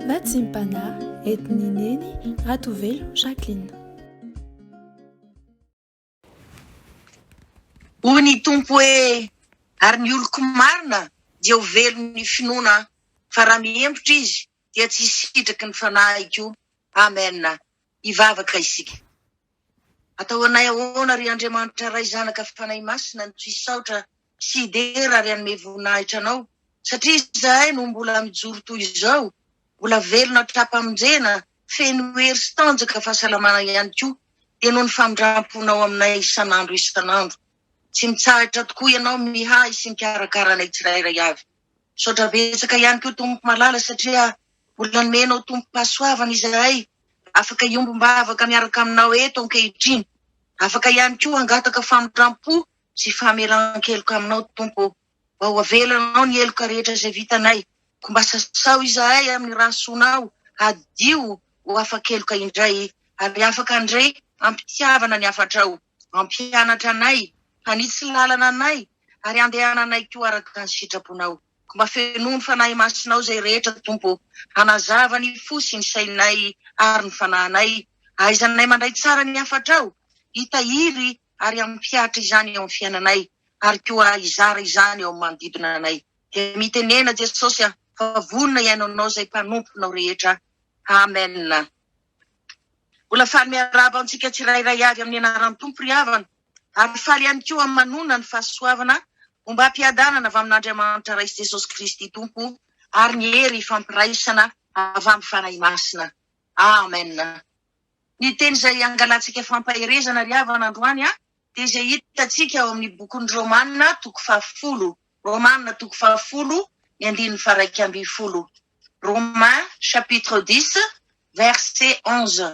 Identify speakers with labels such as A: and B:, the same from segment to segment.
A: Natsimpana, entin'i Neny Ratovelo Jacqueline.
B: Hoy ny Tompo hoe, Ary ny oloko marina dia ho velon'ny finoana an, fa raha mihembotra izy dia tsy hisitraky ny fanahiko. Amen. Hivavaka isika. Ataonay ahoana ry Andriamanitra Ray Zanaka Fanahy Masina ny tsy hisaotra sy hidera ary hanome voninahitra Anao satria izahay no mbola mijoro toy izao mbola velona hatrampamonjena feno hery sy tanjaka fahasalamana ihany koa dia noho ny famindramponao aminay isan'andro isan'andro tsy mitsahatra tokoa ianao mihahy sy mikarakara anay tsirairay avy Misaotra betsaka ihany koa tompoko malala satria mbola nomenao tompom-pahasoavana izahay afaka hiombom-bavaka miaraka aminao eto ankehitriny. Afaka ihany koa hangataka famindram-po sy famelan-keloka aminao tompo ô. Mba ho avelanao ny heloka rehetra izay vitanay. Koa mba sasao izahay amin'ny rà soanao hadio ho afa-keloka indray ary afaka handray am-pitiavana ny hafatrao. Hampianatra anay, hanitsy lalana anay, ary handehananay koa araka ny sitraponao. Mba fenoy ny Fanahy Masinao izay rehetra, Tompo ô. Hanazava ny fo sy ny sainay ary ny fanahinay, ahaizanay mandray tsara ny hafatrao, hitahiry ary hampihatra izany eo amin'ny fiainanay, ary koa hizara izany eo amin'ny manodidina anay. Dia mitenena, Jesosy a, fa vonona hihaino Anao izay mpanomponao rehetra. Amena. Mbola faly miarahaba antsika tsirairay avy amin'ny anaran'ny Tompo ry havana, ary faly ihany koa amin'ny manonona ny fahasoavana momba am-piadanana avy amin'Andriamanitra Ray sy Jesosy Kristy Tompo ary ny hery ifampiraisana avy amin'ny Fanahy Masina. Amen. Ny teny izay hangalantsika fampaherezana ry havana androany dia izay hitantsika ao amin'ny bokin'ny Romana toko fahafolo Romana toko fahafolo ny andininy faharaika ambin'ny folo Romains chapitre dix verset onze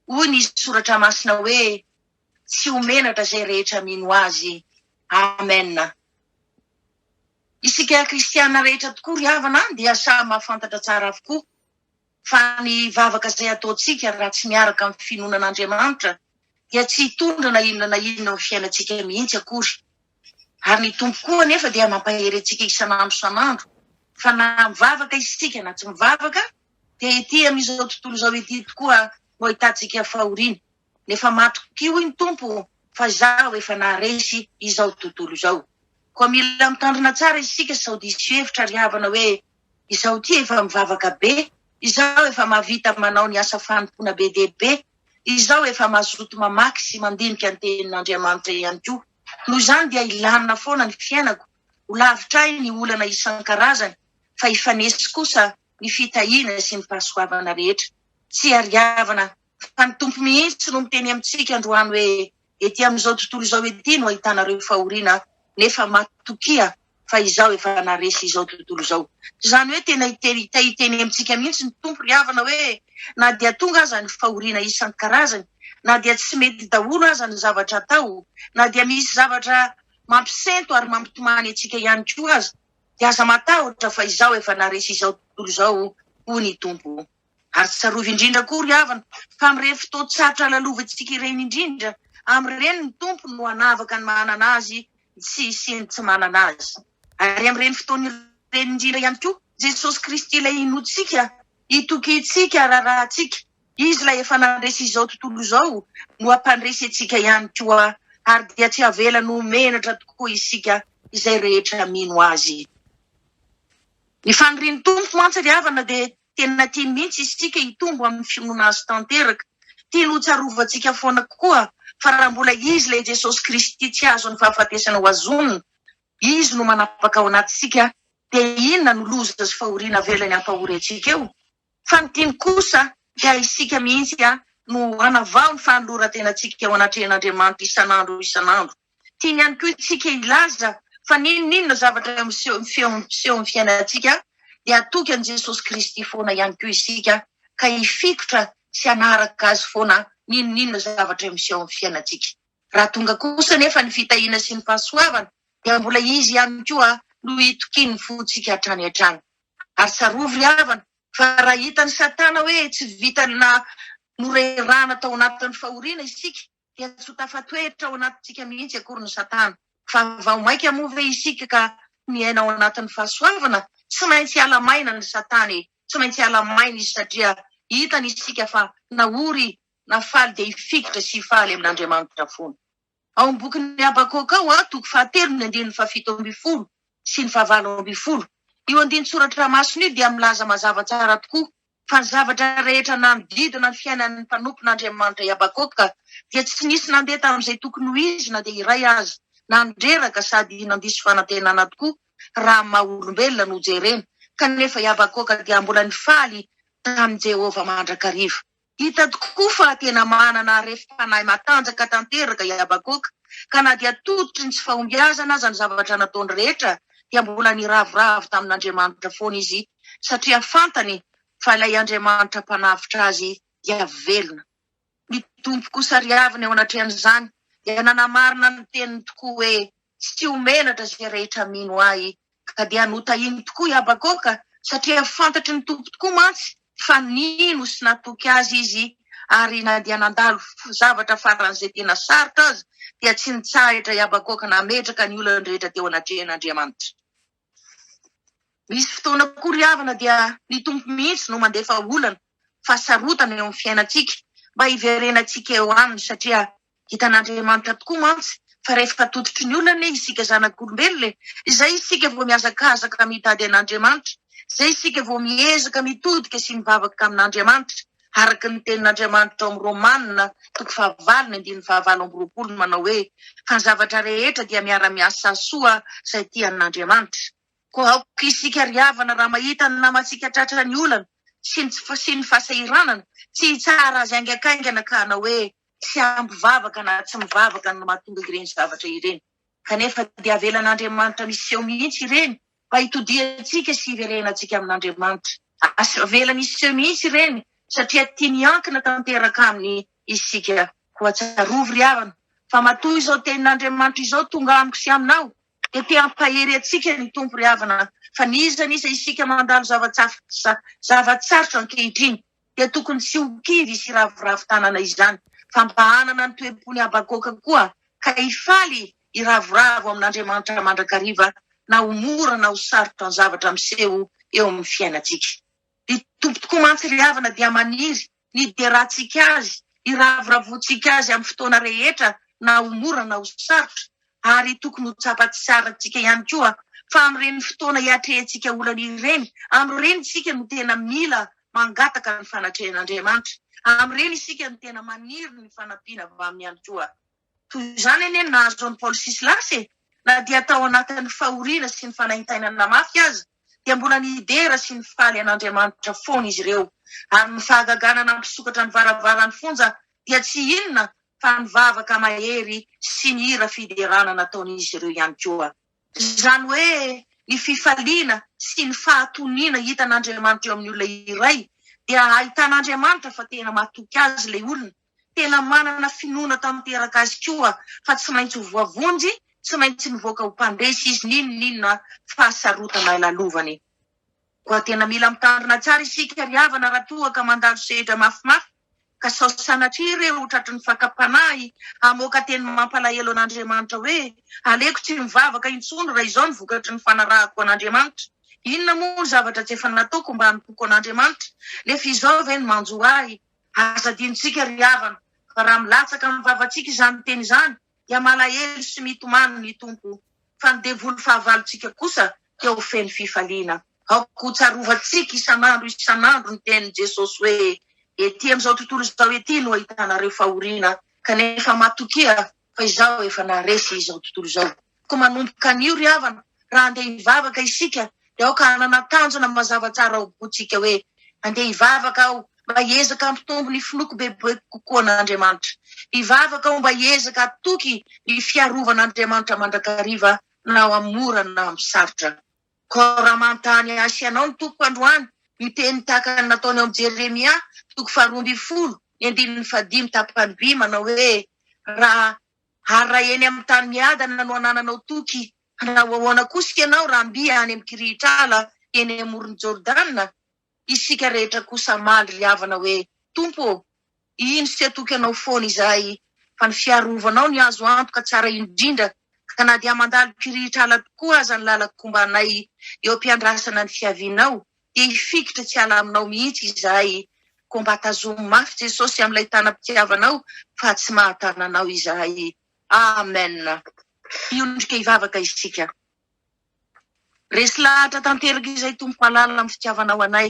B: Hoy ny soratra masina hoe tsy ho menatra izay rehetra mino azy Amen Isika kristiana rehetra tokoa ry havana dia samy mahafantatra tsara avokoa fa ny vavaka izay ataontsika raha tsy miaraka amin'ny finoana an'Andriamanitra dia tsy hitondra na inona na inona amin'ny fiainantsika mihitsy akory. Ary ny Tompo koa anefa dia mampahery antsika isan'andro isan'andro fa na mivavaka isika na tsy mivavaka dia ety amin'izao tontolo izao ety tokoa no ahitantsika fahoriana. Nefa matokia hoy ny Tompo fa Izaho efa naharesy izao tontolo izao. Koa mila mitandrina tsara isika sao diso hevitra ry havana hoe Izaho ity efa mivavaka be, izaho efa mahavita manao ny asa fanompoana be dia be, izaho efa mazoto mamaky sy mandinika ny Tenin'Andriamanitra ihany koa. Noho izany dia hilamina foana ny fiainako, ho lavitra ahy ny olana isan-karazany, fa hifanesy kosa ny fitahiana sy ny fahasoavana rehetra. Tsy hiariavana Fa ny Tompo mihitsy no miteny amintsika androany hoe, Ety amin'izao tontolo izao ety no ahitanareo fahoriana, nefa matokia fa Izaho efa naharesy izao tontolo izao. Izany hoe tena te hiteny amintsika mihitsy ny Tompo ry havana hoe, na dia tonga aza ny fahoriana isan-karazany, na dia tsy mety daholo aza ny zavatra atao, na dia misy zavatra mampisento ary mampitomany antsika ihany koa aza, dia aza matahotra fa Izaho efa naharesy izao tontolo izao, hoy ny Tompo. Ary tsarovy indrindra koa ry havana fa amin'ireny fotoan-tsarotra lalovantsika ireny indrindra, amin'ireny ny Tompo no hanavaka ny manana Azy sy hisian'ny tsy manana Azy. Ary amin'ireny fotoana ireny indrindra ihany koa, Jesosy Kristy ilay inoantsika, itokiantsika, rarahantsika, Izy ilay efa nandresy izao tontolo izao no hampandresy antsika ihany koa, ary dia tsy havelany ho menatra tokoa isika izay rehetra mino Azy. Ny fanirian'ny Tompo mantsy ry havana dia Tena tiany mihitsy isika hitombo amin'ny finoana Azy tanteraka. Tiany hotsarovantsika foana koa fa raha mbola Izy ilay Jesosy Kristy tsy azon'ny fahafatesana hohazonina, Izy no manapaka ao anatintsika, dia inona no loza sy fahoriana avelany hampahory antsika eo? Fa ny tiany kosa dia isika mihitsy no hanavao ny fanoloran-tenantsika ho anatrehan'Andriamanitra isan'andro isan'andro. Tiany ihany koa isika hilaza fa n'inon'inona zavatra miseho miseho amin'ny fiainantsika dia hatoky an'i Jesosy Kristy foana ihany koa isika ka hifikitra sy hanaraka Azy foana n'inon'inona zavatra miseho amin'ny fiainantsika. Raha tonga kosa anefa ny fitahiana sy ny fahasoavana dia mbola Izy ihany koa no hitokian'ny fontsika hatrany hatrany. Ary tsarovy ry havana fa raha hitan'i Satana hoe tsy vitan'ny naha norerahana tao anatin'ny fahoriana isika Dia tsy ho tafatoetra ao anatintsika mihitsy akory ny Satana. Fa vao mainka moa ve isika ka miaina ao anatin'ny fahasoavana? Tsy maintsy hiala maina ny Satana e! Tsy maintsy hiala maina izy satria hitany isika fa na ory na faly dia hifikitra sy hifaly amin'Andriamanitra foana. Ao amin'ny bokin'i Habakoka ao, toko fahatelo ny andininy fahafito ambin'ny folo sy ny fahavalo ambin'ny folo, io andinin-tsoratra masina io dia milaza mazava tsara tokoa Fa ny zavatra rehetra nanodidina ny fiainan'ny mpanompon'Andriamanitra i Habakoka dia tsy nisy nandeha tamin'izay tokony ho izy na dia iray aza. Nandreraka sady nandiso fanantenana tokoa raha ny maha-olombelona no jerena, kanefa i Habakoka dia mbola nifaly tamin'i Jehovah mandrakariva. Hita tokoa fa tena manana areti-panahy matanjaka tanteraka i Habakoka, ka na dia tototry ny tsy fahombiazana aza ny zavatra nataony rehetra, dia mbola niravoravo tamin'Andriamanitra foana izy, satria fantany fa ilay Andriamanitra Mpanavotra azy dia velona. Ny Tompo kosa ry havana eo anatrehan'izany dia nanamarina ny teniny tokoa hoe, Tsy ho menatra izay rehetra mino ahy. Ka dia notahiany tokoa i Habakoka, satria fantatry ny Tompo tokoa mantsy Fa nino sy natoky azy izy, ary na dia nandalo zavatra faran'izay tena sarotra aza, dia tsy nitsahatra i Habakoka nametraka ny olany rehetra teo anatrehan'Andriamanitra. Nisy fotoana koa ry havana dia ny Tompo mihitsy no mandefa olana fa sarotana eo amin'ny fiainantsika mba hiverenantsika eo Aminy satria Hitan'Andriamanitra tokoa mantsy fa rehefa tototry ny olona anie isika zanak'olombelona e! Izay isika vao mihazakazaka mitady an'Andriamanitra, izay isika vao miezaka mitodika sy mivavaka amin'Andriamanitra, araka ny tenin'Andriamanitra ao amin'ny Romana toko fahavalo ny andininy fahavalo amby roapolo manao hoe, Fa ny zavatra rehetra dia miara-miasa soa izay tia an'Andriamanitra. Koa aoka isika ry havana raha mahita ny namantsika tratran'ny olana sy ny tsy sy ny fahasahiranana, tsy hitsara azy haingakaingana ka hanao hoe, tsy ampivavaka na tsy mivavaka no mahatonga ireny zavatra ireny, kanefa dia avelan'Andriamanitra miseho mihitsy ireny mba hitodihantsika sy hiverenantsika amin'Andriamanitra. Avelany hiseho mihitsy ireny satria tiany hiankina tanteraka aminy isika. Koa tsarovy ry havana fa matoa izao tenin'Andriamanitra izao tonga amiko sy aminao dia te hampahery antsika ny Tompo ry havana fa n'iza n'iza isika mandalo zava-tsarotra ankehitriny dia tokony tsy ho kivy sy ravoravo tanana izany, fa mba hanana ny toe-pon'i Habakoaka koa, ka hifaly hiravoravo amin'Andriamanitra mandrakariva na ho mora na ho sarotra ny zavatra miseho eo amin'ny fiainantsika. Ny Tompo tokoa mantsy ry havana dia maniry ny hiderantsika Azy, hiravoravoantsika Azy amin'ny fotoana rehetra na ho mora na ho sarotra, Ary tokony ho tsapantsikarantsika ihany koa fa amin'ireny fotoana iatrehantsika olana ireny, amin'ireny isika no tena mila mangataka ny fanatrehan'Andriamanitra. Amin'ireny isika no tena maniry ny fanampiana avy aminy ihany koa. Toy izany anie no nahazo an'i Paoly sy Silasy e! Na dia tao anatin'ny fahoriana sy ny fanaintainana mafy aza, dia mbola nidera sy nifaly an'Andriamanitra foana izy ireo. Ary ny fahagagana nampisokatra ny varavaran'ny fonja dia tsy inona fa ny vavaka mahery sy ny hira fiderana nataon'izy ireo ihany koa. Izany hoe ny fifaliana sy ny fahatoniana hita an'Andriamanitra eo amin'ny olona iray dia ahitan'Andriamanitra fa tena matoky Azy ilay olona, tena manana finoana tanteraka Azy koa fa tsy maintsy ho voavonjy, tsy maintsy mivoaka ho mpandresy izy n'inon'inona fahasarotana lalovany. Koa tena mila mitandrina tsara isika ry havana raha toa ka mandalo sedra mafimafy ka sao sanatria re ho tratry ny fakam-panahy hamoaka teny mampalahelo an'Andriamanitra hoe aleoko tsy mivavaka intsony raha izao no vokatry ny fanarahako an'Andriamanitra. Inona moa ny zavatra tsy efa nataoko mba hanompoako an'Andriamanitra nefa izao ve no manjo ahy? Aza adinontsika ry havana fa raha milatsaka amin'ny vavantsika izany teny izany dia malahelo sy mitomany ny Tompo, fa ny devoly fahavalontsika kosa dia ho feno fifaliana. Aoka ho tsarovantsika isan'andro isan'andro ny tenin'i Jesosy hoe, Ety amin'izao tontolo izao ety no ahitanareo fahoriana, kanefa matokia, fa Izaho efa naharesy izao tontolo izao. Koa manomboka anio, ry havana, raha handeha hivavaka isika, dia aoka hanana tanjona mazava tsara ao am-pontsika hoe, Handeha hivavaka aho mba hiezaka hampitombo ny finoako bebe kokoa an'Andriamanitra. Hivavaka aho mba hiezaka hatoky ny fiarovan'Andriamanitra mandrakariva na amin'ny mora na amin'ny sarotra. Koa raha manontany ahy sy ianao ny Tompo androany, miteny tahaka ny nataony ao amin'ny Jeremia, toko faharoa ambin'ny folo, ny andininy fahadimy tapany vy, manao hoe, Raha ary raha eny amin'ny tany miadana no anananao toky, hanao ahoana kosa ianao raha mby any amin'ny kirihitr'ala eny amoron'i Jordana? Isika rehetra kosa mandry ry havana hoe, Tompo ô, iny sy hatoky Anao foana izahay, fa ny fiarovanao ny azo antoka tsara indrindra, ka na dia mandalo kirihitra ala tokoa aza ny lalan-kombanay eo am-piandrasana ny fiavianao, dia hifikitra tsy hiala Aminao mihitsy izahay, koa mba tazomy mafy Jesosy amin'ilay tanam-pitiavanao, fa tsy mahatana Anao izahay. Amen. Hiondrika hivavaka isika. Resy lahatra tanteraka izay Tompo Halala amin'ny fitiavanao anay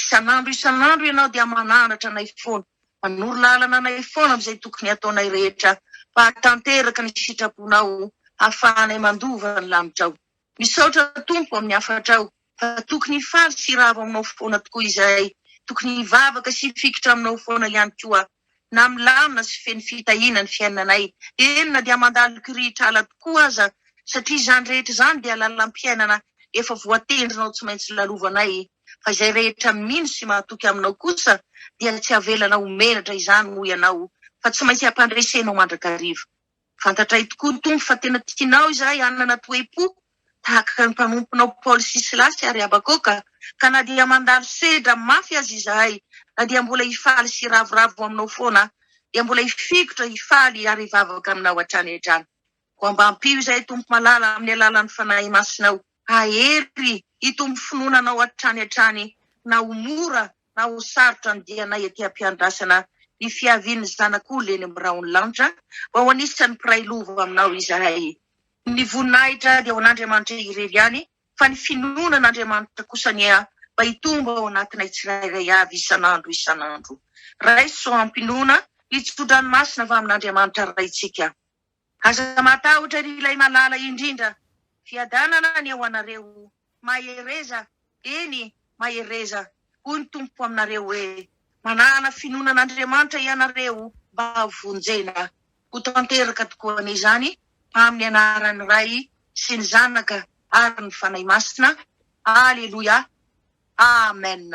B: Isan'andro isan'andro Ianao dia mananatra anay foana Manoro lalana anay foana Amin'izay tokony hataonay rehetra Fa hahatanteraka ny sitraponao Hahafahanay mandova ny lanitrao Misaotra Tompo amin'ny hafatrao Fa tokony hifaly sy hiravo aminao foana tokoa izahay, tokony hivavaka sy hifikitra aminao foana ihany koa, na milamina sy feno fitahiana ny fiainanay, eny na dia mandalo kirihitr'ala tokoa aza, satria izany rehetra izany dia lalam-piainana efa voatendrinao tsy maintsy lalovanay, fa izay rehetra mino sy mahatoky aminao kosa dia tsy havelanao ho menatra izany hoy ianao, fa tsy maintsy hampandresenao mandrakariva. Fantatray tokoa ny Tompo fa tena tianao izahay hanana toe-po tahaka ny mpanomponao Paoly sy Silasy ary Habakoka, ka na dia mandalo sedra mafy aza izahay, na dia mbola hifaly sy hiravoravo aminao foana, dia mbola hifikitra, hifaly ary hivavaka aminao hatrany hatrany. Koa mba ampio izahay Tompo malala amin'ny alalan'ny Fanahy Masinao. Hahery hitombo finoana anao hatrany hatrany na ho mora na ho sarotra ny dianay ety am-piandrasana ny fiavian'ny Zanak'olona eny amin'ny rahon'ny lanitra mba ho anisan'ny mpiray lova aminao izahay. Ny voninahitra dia ho an'Andriamanitra irery ihany fa ny finoana an'Andriamanitra kosa anie mba hitombo ao anatinay tsirairay avy isan'andro isan'andro. Raiso am-pinoana ny tso-dranomasina avy amin'Andriamanitra Raintsika. Aza matahotra ry Ilay Malala indrindra, fiadanana ny eo anareo, mahereza, eny, mahereza, hoy ny Tompo aminareo hoe, manana finoana an'Andriamanitra ianareo mba ho vonjena, ho tanteraka tokoa anie izany, amin'ny anaran'ny Ray sy ny Zanaka ary ny Fanahy Masina, Aleloia, Amen.